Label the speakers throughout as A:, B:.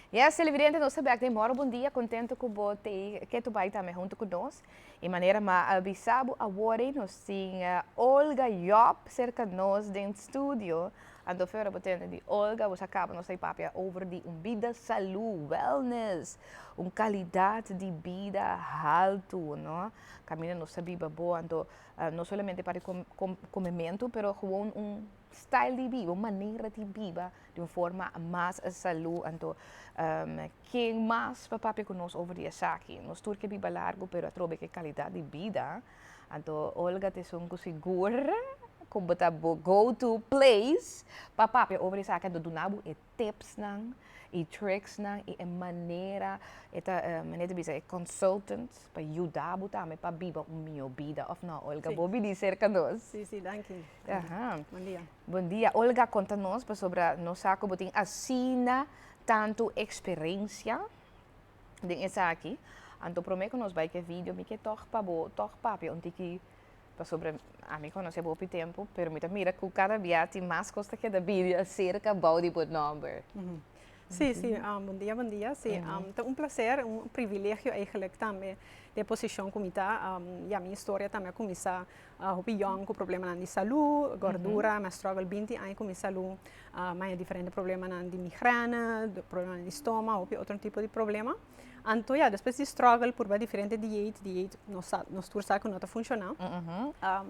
A: Yes televidente nos ta bek den Moro Bon Dia contento cu bo te ke to bay tambe hunto cu nos y manera ma a bisa bo awor nos tin Olga Job cerca nos den studio Anto Fiore bo tende di Olga bo sa kaba nos ta e papia over di un bida salu, wellness, un kalidat di bida haltu no kaminda nos ta biba bo anto no solamente pa e komementu pero gewoon un style di biba un manera di biba di un forma mas salu anto ken mas pa papia ku nos over di esaki nos tur ke biba largu pero atrobe ke kalidat di bida. Anto Olga ta esun ku sigur ku bo ta bo go to place pa papia over esaki. Anto duna bo e tipsnan, e tricksnan i e manera, e ta e mane ta bisa e consultant pa yuda bo tambe pa biba un mihó bida, òf nò Olga? Bo bini serka nos. Si, si, danki. Aha. Bondia. Bondia. Olga, konta nos pasobra nos sa ku bo tin asina tantu eksperensia den esaki anto prome ku nos bai ke video mi ke tog pa bo tog papia un tiki pasobra ami konosé bo hopi tempu pero mi ta mira ku kada bia tin mas kos ta keda bini aserka bou di bo nòmber. Sí sí buen día buen día sí ta un placer un privilegio eigenlijk tambe den posishon ku mi ta ya mi historia tambe a kuminsá. Hopi yòn ku problemanan di salú, gòrdura, mi a strògel binti aña ku mi salú, maña diferente problemanan di migrène, problemanan di stoma, hopi otro tipo di problema. Anto ya, despues di strògel, purba diferente diet, diet no sa nos tur sa ku no ta funshoná,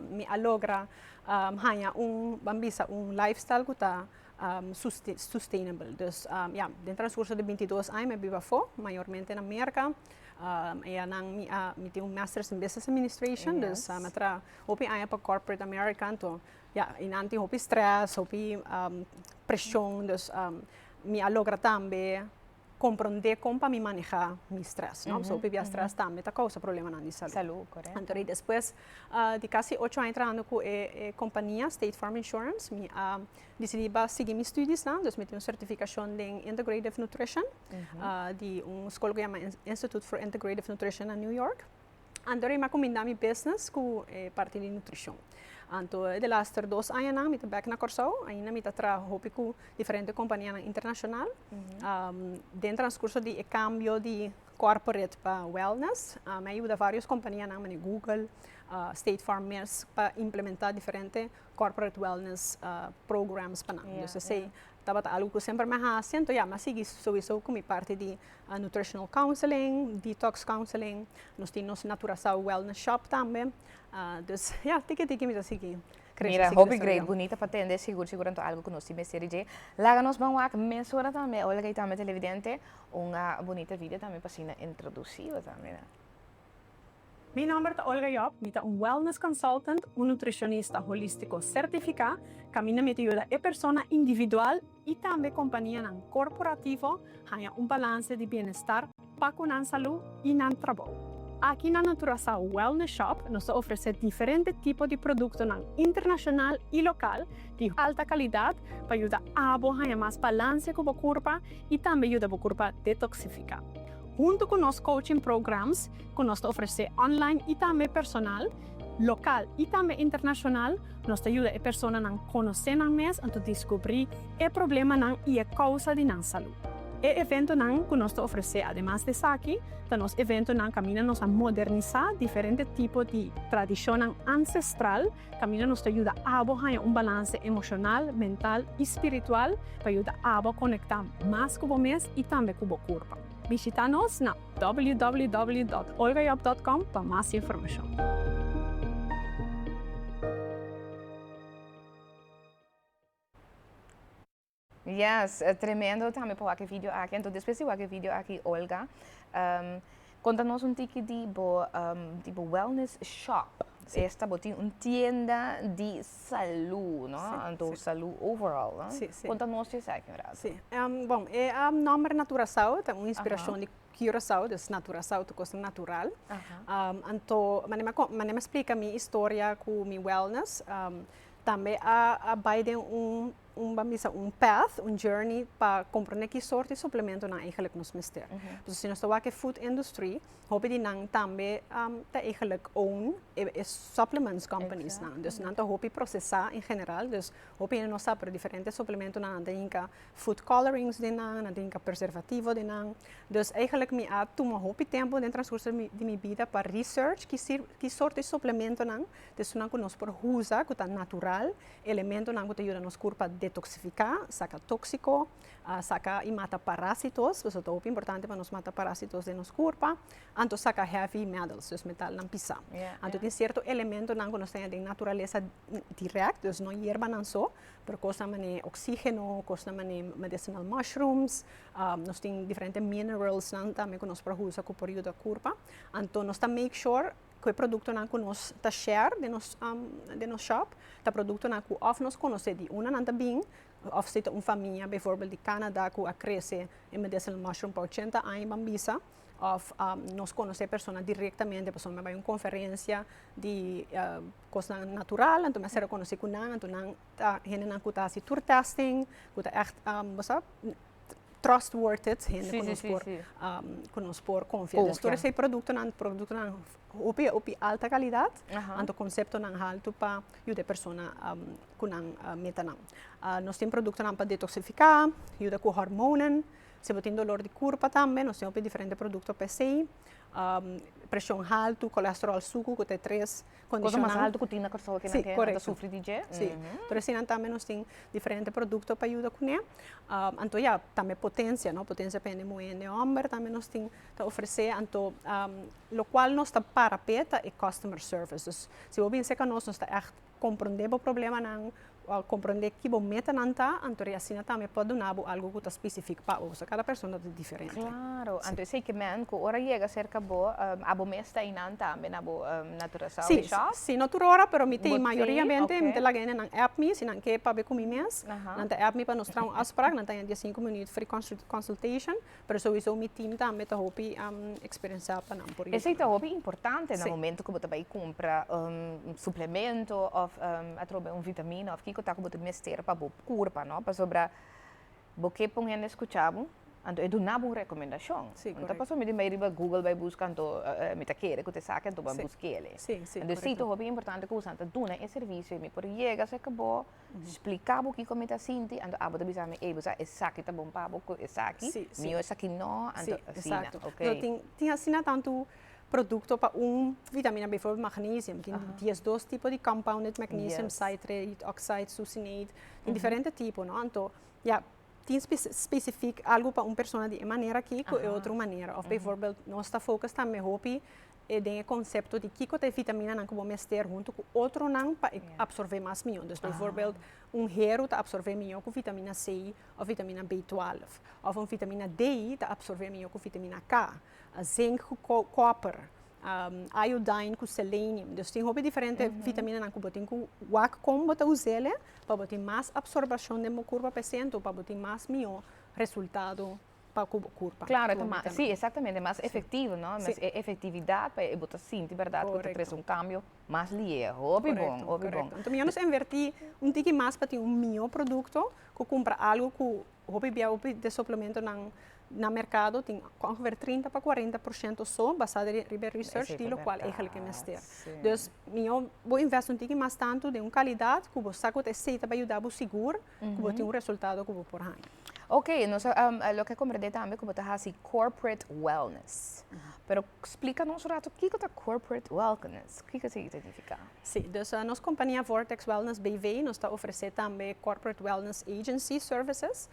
A: mi a logra haña un, ban bisa un lifestyle ku ta. sustainable. Dus ya, den transcurso di binti dos aña mi a biba afo, mayormente na Merca. Eya nan mi a, mi tin un Masters in Business Administration, dus mi a traha hopi aña pa corporate America anto ya, einan tin hopi stress, hopi presion, dus mi a logra tambe. komprondé kon pa mi manehá mi strès, no? Pasobra pipia strès tambe ta kousa problemanan di salú. Salú, korèkto. Anto rei despues di kasi ocho aña trahando ku e e kompania State Farm Insurance mi a disidí pa sigui mi studionan, dus mi tin un sertifikashon den Integrative Nutrition di un skol ku yama Institute for Integrative Nutrition na New York. Anto rei mi a kumindá mi business ku e parti di nutrishon. Anto e laster dos añanan mi ta bèk na Kòrsou, ainda mi ta traha hopi ku diferente kompanianan internashonal. Den transkurso di e kambio di kòrporate pa wèlnès, mi a yuda vários kompanianan manera Google, State Farm mes pa implementá diferente corporate wellness programs panan dus esei tabata algo ku semper mi a hasi anto ya mi a sigui sowiso ku mi parti di nutritional counseling, detox counseling nos tin nos naturasao wellness shop tambe dus ya tiki tiki mi ta sigui krese Mira hopi great bunita pa tende sigur sigur anto algo ku nos tin mester dje laga nos ban wak mesora tambe ola kei tambe televidente un bunita video tambe pa asina introdusiba tambe. Mi nomber ta Olga Job, mi ta un wellness consultant, un nutricionista holístico certificá. Caminda mi ta yuda e persona individual y tambe companianan corporativo haña un balance di bienestar pa cu nan salud y nan trabou. Aki na Naturasao Wellness Shop nos ta ofrecé diferente tipo di productonan internacional y local di alta calidad pa yuda abo haña mas balance cu bo curpa y tambe yuda bo curpa detoxificá. Hunto cu nos coaching programs ku nos ta ofresé online i tambe personal, lokal i tambe internashonal, nos ta yuda e personanan konosé nan mes anto diskubrí e problemanan i e kousa di nan salú. E eventonan ku nos ta ofresé ademas di esaki ta nos eventonan kaminda nos a modernisá diferente tipo di tradishonnan ansestral kaminda nos ta yuda abo haña un balanse emoshonal, mental i spiritual pa yuda abo konektá mas ku bo mes i tambe ku bo kurpa. Bishitá nos na. www.olgajob.com pa mas informashon. Yes tremendo tambe pa wak e video aki entos despues di wak e video aki Olga konta nos un tiki di bo di bo wellness shop esta bo tin un tienda di Salú, no? Sí, Anto sí. salú overall, no? Sí, sí. Konta nos di esaki un rato. Sí. Em, bon, e em, nomber Naturasao ta un inspirashon di Curaçao, dus Naturasao ta kos natural. Aha. Um, anto, mane ma, kon- mane ma splika mi historia ku mi wellness, um, tambe a, a bai den un un ban bisa un path, un journey pa comprende ki sort di suplementonan eigenlijk nos mester. Entonces si nos ta wak e food industry, hopi di nan tambe ta eigenlijk own e supplements companies nan. Dus nan ta hopi procesa en general, dus hopi hende no sa pero diferente suplementonan nan ta yinka food colorings den nan, nan ta yinka preservativo den nan. Dus eigenlijk mi a tuma hopi tempo den transcurso di mi bida pa research ki sort di suplementonan ta esun nan ku nos por usa ku ta natural Elementonan ku ta yuda nos kurpa detoksifiká, saka tóksiko, saka i mata parásitos, pasobra ta hopi importante pa nos mata parásitos den nos kurpa, anto saka heavy metals, dus metalnan pisá. Anto tin sierto elementonan ku nos tene den naturalesa dirèkt, dus no yerbanan so, pero kosnan manera oksígeno, kosnan manera medicinal mushrooms, nos tin diferente mineralsnan tambe ku nos por usa ku por yuda kurpa. Anto nos ta make sure Cu e productonan cu nos ta share den nos den nos shop ta productonan cu of nos conoce di una nan ta bin of si ta un famia bijvoorbeeld di Canada cu a crece e medicinal mushroom pa ochenta aña ban bisa of nos conoce persona directamente pasobra mi a bay un conferencia di cosnan natural anto mi a ser reconoci cu nan anto nan hendenan ku ta hasi tur tèsting, ku ta ègt bosabi trust word it hende ku nos por ku nos por konfia. Dus tur esei produktonan, produktonan hopi e hopi alta kalidat, anto konseptonan haltu pa yuda e persona ku nan meta nan. Nos tin produktonan pa detoksifiká, yuda ku hormonan, si bo tin dolor di kurpa tambe nos tin hopi diferente produkto pa esei, preshon haltu, kolesterol suku ku ta e tres. Cosa mas alto cu tin na Curaçao aki nan ta sufri di dje. Pero asina tambe nos tin diferente producto pa yuda cune. Anto ya, tambe potencia, no? Potencia pa hende muhé, hende homber tambe nos tin ta ofrecé. Anto locual nos ta para p'e ta e customer service. Dus si bo a bini seca nos, nos ta ègt comprendé bo problemanan, Bo komprendé ki bo metanan ta, anto di asina tambe por duna bo algu ku ta spesifik pa oso. Kada persona ta diferente. Klaro. Anto esei ke mèn ku ora yega serka bo, abo mes ta einan tambe na bo Naturasao Shop? Si, si, si. No tur ora, pero mi tin mayoriyamente mi ta laga hende nan app mi, si nan ke pa be ku mi mes, nan ta app mi pa nos traha un afsprak, nan ta haña diasinko minüt free consultation, Pero sowiso mi team tambe ta hopi experensá pa nan por Esei ta hopi importante na momento ku bo ta bai kumpra un suplemento òf atrobe un vitamina òf kiko ta ku bo ta mester pa bo kurpa, no? Pasobra bo ke pa un hende skucha bo, anto e duna bo un rekomendashon. Si, korek. No ta pasá mi tin bai riba Google bai buska anto mi ta kere ku ta esaki anto bo a busk'e. Si, si, korek. Entonces si ta hopi importante ku boso ta duna e servisio ei. Mi por yega serka bo. spliká bo kiko mi ta sinti anto abo ta bisa mi ey bo sa esaki ta bon pa bo ku esaki mi yo esaki no anto asina ok. No tin tin asina tantu produkto pa un vitamina bifobel magnesium tin dies dos tipo di compounded magnesium citrate oxide succinate tin diferente tipo no anto ya tin specifiek algu pa un persona di e manera aki ku e otro manera of bifobel nos ta focus tambe hopi e den e konsepto di kiko ta e vitaminanan ku bo mester huntu ku otronan pa e apsorbé mas mihó. Dus beivoorbeeld un heru ta apsorbé mihó ku vitamina C òf vitamina B twèlf, òf un vitamina D ta apsorbé mihó ku vitamina K, zink ku kòper, iodine ku selenium. Dus tin hopi diferente vitaminanan ku bo tin ku wak kon bo ta us'el'e pa bo tin mas apsorbashon den bo kurpa, p'esei anto pa bo tin mas mihó resultado. pa cu bo curpa. Claro, ta mas, si, exactamente, ta mas efectivo, no? Si. E efectividad pa e bo ta sinti berdad cu ta trece un cambio mas lier. Hopi bon, hopi bon. Correcto. Enton mi a nos inverti un tiki mas pa tin un mihor producto cu cumpra algo cu hopi bia, hopi den suplementonan na mercado tin ongeveer trinta pa cuarenta por ciento so basado riba e research di locual eigenlic e mester. Dus mihor bo invest un tiki mas tanto den un calidad cu bo sa cu ta esey ta bay yuda bo sigur. ku bo tin un resultado ku bo por haña. Ok, nos a loke a komprende tambe ku bo ta hasi corporate wellness. Pero splika nos un ratu kiko ta corporate wellness? Kiko ta identifiká? Sí, dus nos kompania Vortex Wellness BV nos ta ofresé tambe corporate wellness agency services.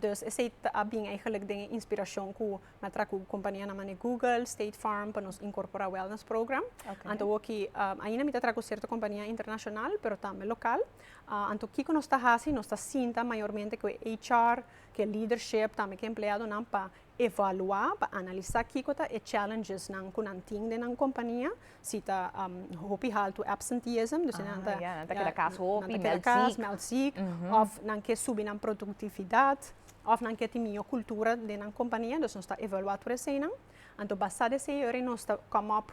A: Dus esei ta bin eigentlik den e inspirashon ku mi a traha ku kompanianan manera Google, State Farm pa nos inkorporá wellness program. Anto woki ainda mi ta traha ku sierto kompania internashonal pero tambe lokal. Anto kiko nos ta hasi? Nos ta sinta mayormente ku e HR, ku e lidership, tambe ku e empleadonan pa evaluá, pa analisá kiko ta e challengesnan ku nan tin den nan kompania, si ta hopi haltu absenteeism, dus nan ta nan ta keda kas hopi, mèlt zìk, mèlt zìk, òf nan ke subi nan produktividat, òf nan ke tin miyó kultura den nan kompania, dus nos ta evaluá tur eseinan. Anto basá dor esei yori nos ta come up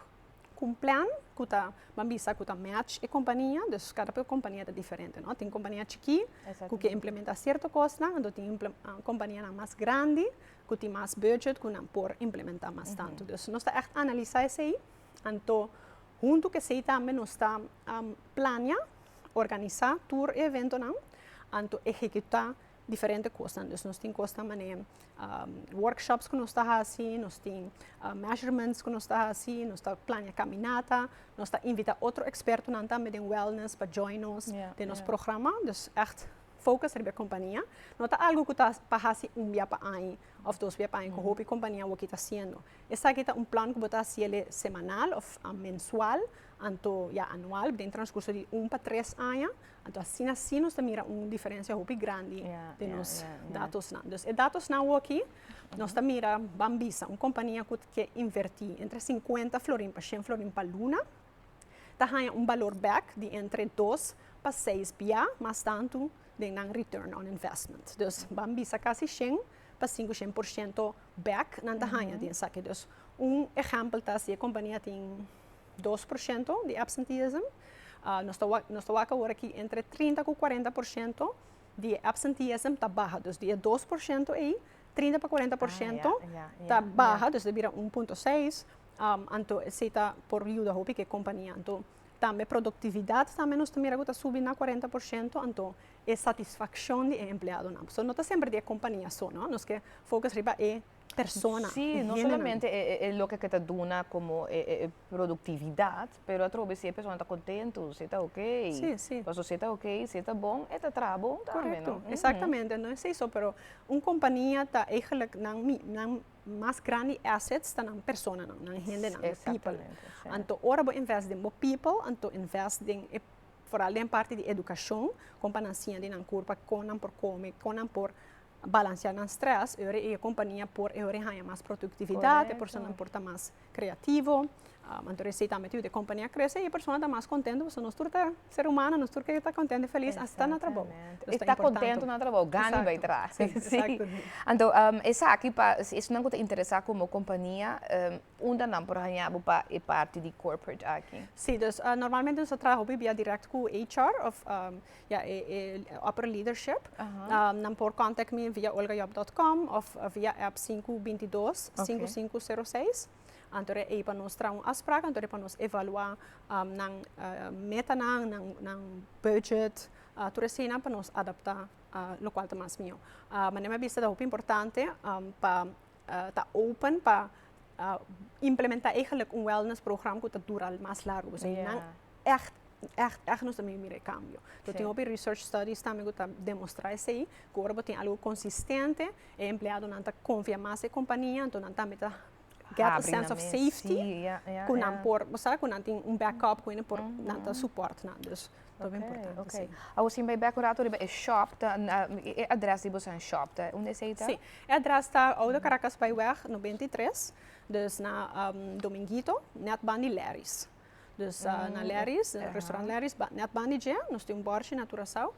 A: cu un plan cu ta ban bisa cu ta match e compania, dus cada compania ta diferente no, tin compania chiki cu ke implementa cierto cosnan, anto tin companianan mas grandi cu tin mas budget cu nan por implementa mas tanto, dus nos ta echt analisa esey, anto hunto cu esey tambe nos ta plania, organisa tur e eventonan, anto ehecuta diferente kosnan. Dus nos tin kosnan manera workshops ku nos ta hasi, nos tin measurements ku nos ta hasi, nos ta plania kaminata, nos ta invitá otro ekspertonan tambe den wellness pa join nos den nos programa. Dus ègt focus riba e kompania. No ta algu ku ta pa hasi un bia pa ai òf dos bia pa ai ku hopi kompania awor ki ta hasiendo. Esaki ta un plan ku bo ta hasiel semanal òf mensual anto ya anual den transkurso di un pa tres aña. Anto asina si nos ta mira un diferensia hopi grandi den nos datosnan. Dus e datosnan woki nos ta mira, ban bisa un kompania ku ke invertí entre sinkuenta florin pa shen florin pa luna, ta haña un balor bèk di entre dos pa seis bia mas tantu den nan return on investment. Dus ban bisa kasi shen pa sinku shen por shento bèk nan ta haña di esaki. Dus un ehèmpel ta si e kompania tin dos por shento di absenteeism. Nos ta nos ta wak awor aki entre trinta ku kuarenta por shento di e absenteeism ta baha. Dus di e dos por shento ei, trinta pa kuarenta por shento ta baha, dus ta bira un punto seis. Anto esei ta por yuda hopi ku e kompania. Anto tambe produktividat tambe nos ta mira ku ta subi na kuarenta por shento, anto e satisfakshon di e empleadonan. Pasobra no ta semper di e kompania asono, nos ke fokus riba e. persona, e hendenan. Sí, no solamente e loke ke ta duna komo e produktividat, pero atrobe si e persona ta kontentu, si e ta okey. Sí, sí. Paso si e ta okey, si e ta bon, e ta traha bon tambe, no? Korekto, eksaktamente. No esei so, pero un kompania ta eigenlijk nan nan mas grandi assets ta nan personanan, nan hendenan, nan people. Eksaktamente, sí. Anto ora bo invest den bo people, anto invest den e, foral den parti di edukashon, kon pa nan siña di nan kurpa kon nan por kome, kon nan por Balansiá nan strès, ora e kompania por e ora haña mas produktividat, e personanan por ta mas kreativo, anto esei tambe ta yuda e kompania krese i e persona ta mas kontentu pasobra nos tur ta ser humano, nos tur kere ta kontentu i felis hasta na trabou. I ta kontentu na trabou, gana bai traha. Anto esaki pa esnan ku ta interesá kuma e kompania, unda nan por haña bo pa e parti di corporate aki? Si, dus normalmente nos ta traha hopi bia dirèkt ku HR òf Ya e e opera leadership nan por contact mi via olgajob dot com of via app sinku binti dos sinku sinku sero seis anto de ey pa nos traha un afsprak anto de pa nos evalua nan metanan nan nan budget tur eseinan pa nos adapta lokual ta mas miaw manera mi a bisa ta hopi importante pa ta open pa implementa eigenlijk un wellness program ku ta dura mas largu. Pasobra e nan ècht, ècht, ècht nos ta bin mira e kambio. Bo tin hopi research studies tambe ku ta demostrá esei, ku ora bo tin algu konsistente, e empleadonan ta konfia mas e kompania, anto nan tambe ta gèt a sèns òf safety ku nan por, bo sa, ku nan tin un backup, ku nan por, nan ta supòrt nan. ta muy importante si. Awor si mi bai bek un rato riba e shop ta e adres di boso shop ta unda esey ta? Si, e adres ta Oude Caracas Byweg noventa i tres, dus na Dominguito net ban di Leris. Dus na Leris, restaurant Leris net ban di dje nos tin un bòrchi na Curaçao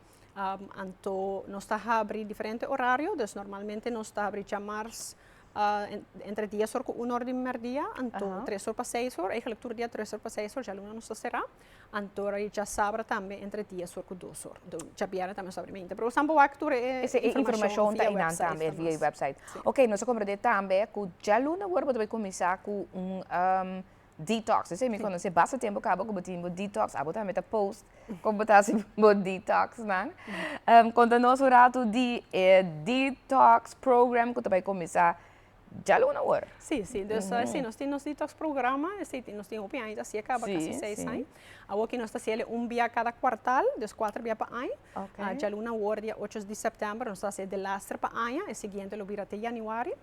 A: anto nos ta habri diferente horario dus normalmente nos ta habri djamars entre dies or ku uno or di merdia anto tres or pa seis or, eigenlijk tur dia tres or pa seis or djaluna nos ta sera. Anto ora di chasabra tambe entre dies or ku dos or. Anto djabièrnè tambe nos ta abri mente. Pero awor wak tur e informashon via wèpsait ta mas. Oke, nos a komprendé tambe ku djaluna awor bo ta bai kuminsá ku un detox. Esei mi konosé basta tempu kaba ku bo tin bo detox. Abo tambe ta post kon bo ta hasi bo detoxnan. Konta nos un ratu di e detox program ku ta bai kuminsá. djal una awor. Sí, sí, dus esei nos tin nos detox programa, esei tin nos tin hopi aña ta siña, a kaba kasi seis aña. Awor ke nos ta hasiel e un bia kada kuartal, dus kuater bia pa aña. Djal una awor dia ocho di sèptèmber nos ta hasi e de laster pa aña, e siguiente lo bira te yanüari.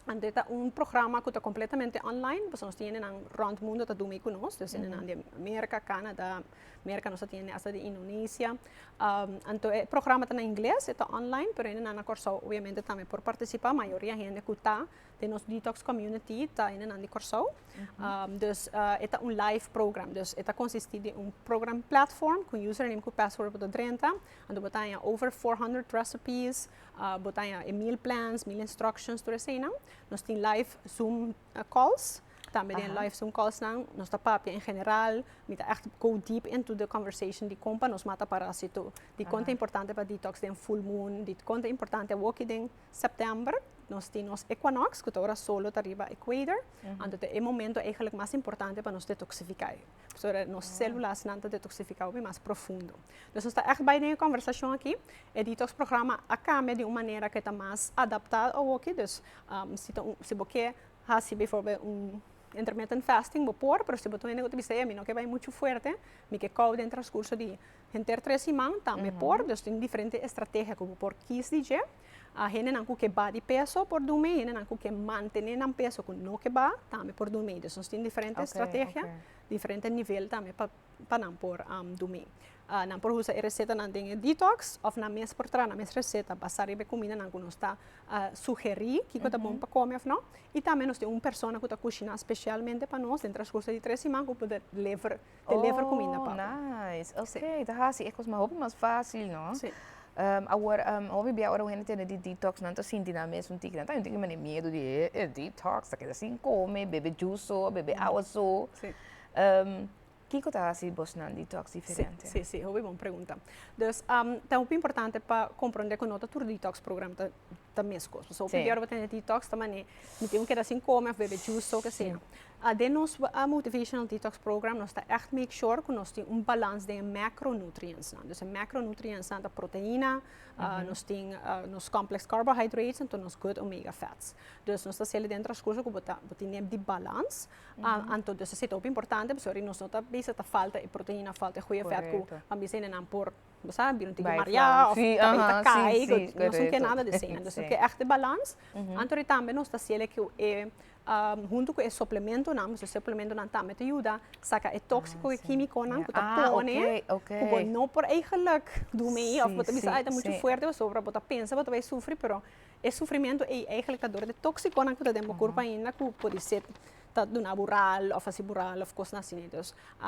A: Anto e ta un programa ku ta kompletamente online, pasobra nos tin yendenan rònt mundo ta dumi ku nos, dus yendenan di Amerika, Kanada. Merka nos ta tin asta den Indonesia. Anto e programa ta na ingles, e ta online, pero hende nan na Kòrsou obviamente tambe por partisipá. Mayoria hende ku ta den nos detox community ta hende nan di Kòrsou. Dus e ta un live program. Dus e ta konsistí den un program platform ku username ku password bo ta drenta. Anto bo ta haña over four hundred recipes, bo ta haña e meal plans, meal instructions, tur eseinan. Nos tin live zoom calls tambe den live zoom calls nan nos ta papia en general mi ta echt go deep into the conversation di con pa nos mata parasito di con ta importante pa detox den full moon di con ta importante awoki den september nos tin nos equinox cu ta ora solo ta riba equator anto ta e momento mas importante pa nos detoxifica. Pasobra nos celulasnan ta detoxificado mi mas profundo. Dus nos ta echt bay den e conversacion aki. E detox programa a cambia di un manera cu e ta mas adapta awoki. Dus si ta un, si bo ke haci bijvoorbeeld un intermittent fasting bo por, pero si bo ta un hende cu ta bisa ey a mi no ke bay mucho fuerte, mi ke kou den transcurso di henter tres siman, tambe por. Dus tin diferente estrategia cu bo por kies di dje. A hendenan ku ke ba di peso por dun mei, hendenan ku ke mantené nan peso ku no ke ba tambe por dun mei. Dus nos tin diferente strategia, diferente nivel tambe pa pa nan por dun mei. Nan por usa e resetanan den e detox òf nan mes por traha nan mes reseta basá riba e kumindanan ku nos ta sugerí kiko ta bon pa kome òf no. I tambe nos tin un persona ku ta kushiná spesialmente pa nos den transkurso di tres siman ku por ta lever te lever cuminda pa bo. Oh, nice. Ok, sí. ta hasi e cos mas hopi mas facil, no? Sí. Um, awor, um, hopi bia ora un hende tene di detox, nan ta sinti nan mes un tiki, nan ta sinti mene miedu di e, e detox, ta keda sin come, bebe juice so, bebe awa so. Sí. Um, kiko ta hasi bosnan detox diferente? Sí, sí, sí, hopi bon pregunta. Dus, um, ta hopi importante pa comprende cu no ta tur detox program ta ta meskos. Pasobra hopi di ora bo tene detox ta mane mi tin ku keda sin kome òf bebe juice o kesio. Den nos motivational detox program nos ta ègt make sure ku nos tin un balans den e mèkro nutrientsnan. Dus e mèkro nutrientsnan ta proteina, nos tin nos complex carbohydrates en nos good omega fats. Dus nos ta hasiel den e transcurso ku bo ta bo tin di balans. Anto dus esei ta hopi importante pasobra nos no ta bisa ta falta e proteina, falta e goeie fèt ku a bisa nenan por bo sa bira tin ki maria of tabata ta kai nos no ker nada di esei nos ta ker echte balans anto di tambe nos ta hasiel e hunto cu e suplementonan pasobra e suplementonan tambe ta yuda saca e toxico e quimiconan cu ta pone cu bo no por ey geluk do mi of bo ta bisa ay ta mucho fuerte pasobra bo ta pensa bo ta bay sufri pero e sufrimento ey eigenlijk ta dor di e toxiconan cu ta den bo cuerpo ainda cu por decir ta duna bo ral of a hasi bo ral of cosnan asina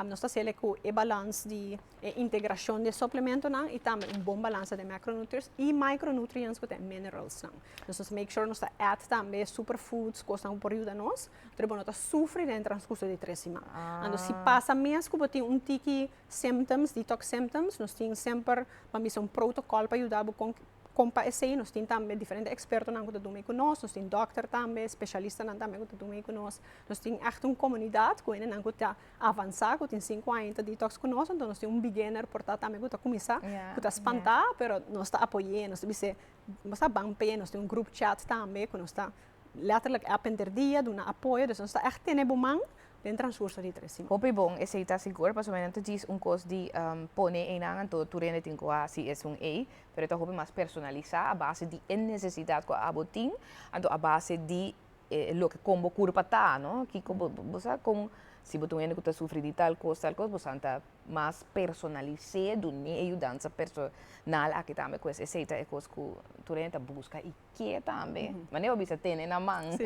A: nos ta hasiel cu e balans di e integrashon di e suplementonan i tambe un bon balansa di e mèkronutris i maikronutriens ku ta e mineralsnan. Nos mester make sure nos ta èt tambe e superfoods, kosnan ku por yuda nos, tur e bo no ta sufri den e transkurso di e tres siman. Anto si pasa mes ku bo tin un tiki symptoms, detox symptoms, nos tin semper, pa bisa un protokòl pa yuda bo kon kon pa esei. Nos tin tambe diferente ekspertonan ku ta duna ei ku nos, nos tin dòkter tambe, speshialistanan tambe ku ta duna ei ku nos. Nos tin ègt un komunidat ku hendenan ku ta avansá ku tin sinku aña ta detox ku nos anto nos tin un beginner por ta tambe ku ta kuminsá ku ta spantá pero nos ta apoy'é nos ta bis'é bo sa ban p'e nos tin un grup chat tambe ku nos ta letterlijk èp henter dia duna apoyo dus nos ta ègt tene bo man den transkurso di tres siman. Hopi bon, esei ta sigur, pasobra mi nan ta djis un kos di pone einan anto tur hende tin ku hasi esun ei, pero e ta hopi mas personalisá a base di e nesesidat ku abo tin, anto a base di e loke kon bo kurpa ta, no? Kiko bo, bo sa kon, si bo ta un hende ku ta sufri di tal kos, tal kos, bo san ta mas personalis'é duni e yudansa personal aki tambe ku esei. Esei ta e kos ku tur hende ta buska i ke tambe. Mane bo bisa tene nan man,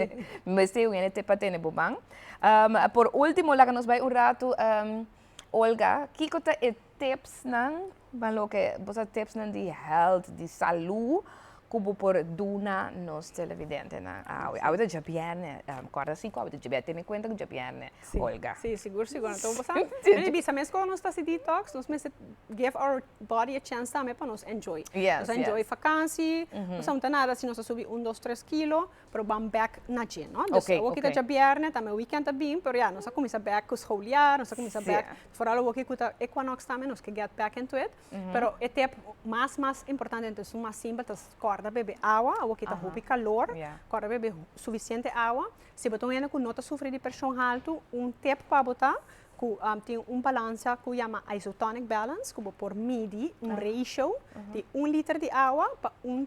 A: mester un hende te pa tene bo man. por último laga nos bai un ratu, Olga, kiko ta e tipsnan? Ban loke bo sa tipsnan di hèlt, di salú ku bo por duna nos televidentenan awe? Awe ta djabièrnè, kòrda si ku awe ta djabièrnè, tene kuenta ku djabièrnè, Olga. Sí, sigur, sigur. Anto bo sa, mi ta bisa mes kos nos ta hasi detox, nos mester give our body a chance tambe pa nos enjoy. Nos a enjoy fakansi, nos a hunta nada si nos a subi un, dos, tres kilo. probaam bek na dje no dus awoki ta dja bierne tambe weekend ta bin pero ya nos a cuminsa bek cu scholiar nos a cuminsa bek foral awoki cu ta equinox tambe nos ke get bek into it pero e tep mas mas importante ento esun mas simpel ta corda bebe awa awoki ta hopi calor corda bebe suficiente awa si bo ta un hende cu no ta sufri di presion alto un tep pa bo ta cu tin un balanza cu yama isotonic balance cu bo por midi un ratio di un liter di awa pa un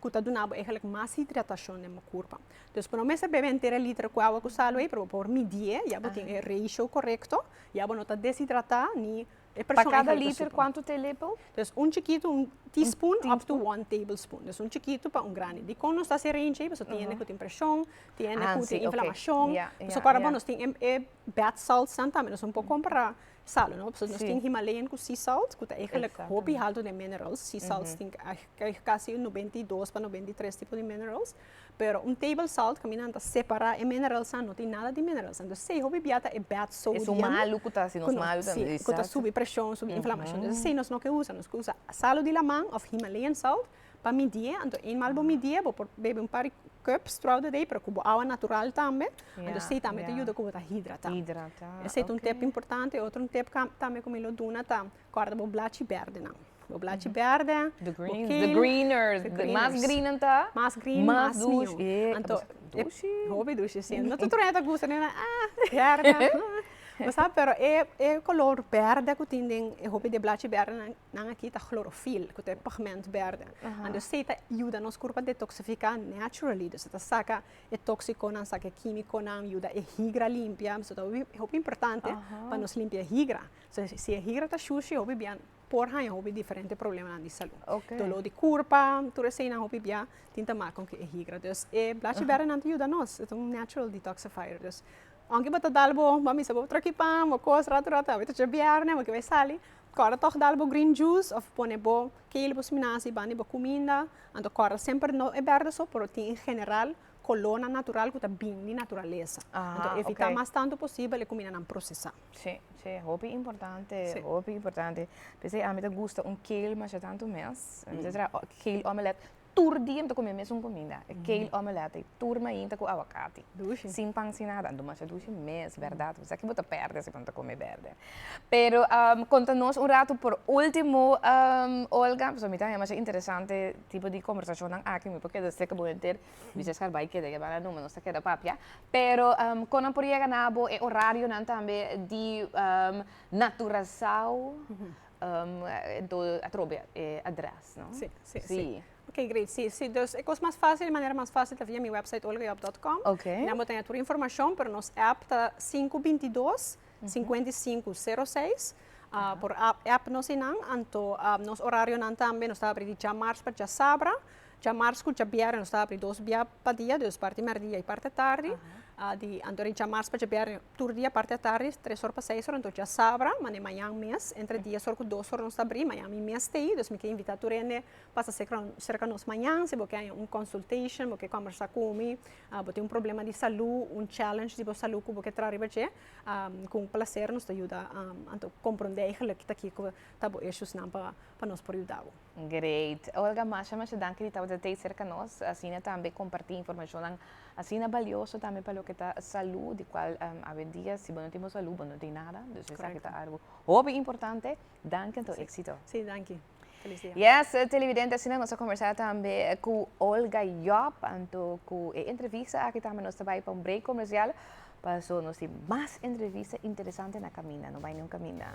A: ku ta duna bo eigenlijk mas hidratashon den bo kurpa. Dus bo no mester bebe henter e liter ku awa ku sa lo ei, pero bo por midie ya bo tin e ratio korekto, ya bo no ta deshidratá ni e persoon Pa kada liter kuantu te lepel? Dus un chikitu, un teaspoon up to one tablespoon. Dus un chikitu pa un grandi. Dikon nos ta hasi e range ei? Pasobra tin hende ku tin preshon, tin hende ku tin inflamashon. Pasobra nos tin e bath salts nan tambe, nos no por kompará sal no pasobra nos tin himalayan ku sea salt ku ta egentlik hopi haltu den minerals sea salt tin kasi un nobenta i dos pa nobenta i tres tipo di minerals pero un table salt ku mi nan ta separa e minerals an no tin nada di minerals entonces esei hopi bia ta e bad sodium ku ta subi preshon subi inflamashon esei nos no ke usa nos ke usa salu di laman of himalayan salt Pa midié, anto eenmaal bo midié bo por bebe un par di cup straw de day pero cu bo awa natural tambe, anto esey tambe ta yuda cu bo ta hidrata. Esey ta un tip importante. Otro tip tambe cu mi lo duna ta corda bo blachi berdenan. Bo blachi berde, bo kale. The greeners, the mas green nan ta. Mas green, mas mion. Anto, hopi dushi, si. No tur tur hende ta gusta nenan, ah, berde, bo sa, pero e color berde cu tin den e hopi di e blachi berdenan. Nan aki ta chlorofil ku ta e pigment berde. Ando esei ta yuda nos kurpa detoksifiká naturally. Dus e ta saka e tóksikonan, saka e kímikonan, yuda e higra limpia. So ta hopi importante pa nos limpia e higra. Si e higra ta shushi hopi bia por haña hopi diferente problemanan di salú. Doló di kurpa, tur esei nan hopi bia tin ta mak kon ku e higra. Dus e blachi bèrdenan ta yuda nos. E ta un natural detoxifier. Dus aunke bo ta dal bo, bo a bisa bo tròk ipan, bo kos ratu ratu, a wit ocho bièrnè bo ke bai sali, Corda tog dal bo green juice of pone bo kele bo siminazi bandi bo cuminda, anto corda semper no e berde so pero tin en general colornan natural cu ta bini di naturaleza, anto evita mas tanto posibel e cumindanan procesa. Si, si hopi importante, hopi importante, p'esei ami ta gusta un kale masha tanto mes, mi ta traha kale omelette. tur dia mi ta come mesun comida, e kale omelette, e tur mainta cu aguacati. Dushi. Sin pan, sin nada. Demacia dushi mes, berdad. Bo sa kibo ta perde si bo no ta come berde. Pero conta nos un ratu por ultimo, Olga, pasobra mi ta haya masha interesante e tipo di conversacionnan aki. Mi por keda seca bo henter. Bisa Scar bay keda yaba nan no, ma nos ta keda papia. Pero con nan por yega na bo, e horarionan tambe di Naturasao. Enton a trobe e adrès no? Sí, sí, sí. Ok, great. Sí, sí. Dus e kos mas fásil, e manera mas fásil ta via mi wèpsait olgajob.com. Ok. Nan bo ta haña tur informashon, pero nos èp ta sinku binti dos, sinkuenta i sinku, sero seis. Por èp nos einan. Anto nos orarionan tambe, nos ta abri di djamars pa djasabra. Djamars ku djabierna nos ta abri dos bia pa dia, dus parti mèrdia i parti tardi. Di anto di djamars pa djabierna Tur dia parti atardi tres or pa seis or anto dja sabra, mane mañan mes entre dies or ku dos or nos ta bri, mañan mi mes ta ei dus mi ke invita tur hende pasa sekra serka nos mañan si bo ke haña un consultation bo ke kombersa ku mi bo tin un problema di salu un challenge di bo salu ku bo ke tra riba dje kon plaser nos ta yuda anto kompronde aigelik kiko ta bo issues nan pa nos por yuda bo. Great. Olga, masha masha danki di tabata tei serka nos, asina tambe komparti informashonnan asina balioso tambe pa loke ta salú, di kual awendia si bo no tin bo salú bo no tin nada, dus esaki ta algu hopi importante. Danki anto, éksito. Sí, danki. Felis dia. Yes, televidente, asina nos a kombersá tambe ku Olga Job, anto ku e entrevista aki tambe nos ta bai pa un break komersial, paso nos tin mas entrevista interesante na kaminda, no bai niun kaminda.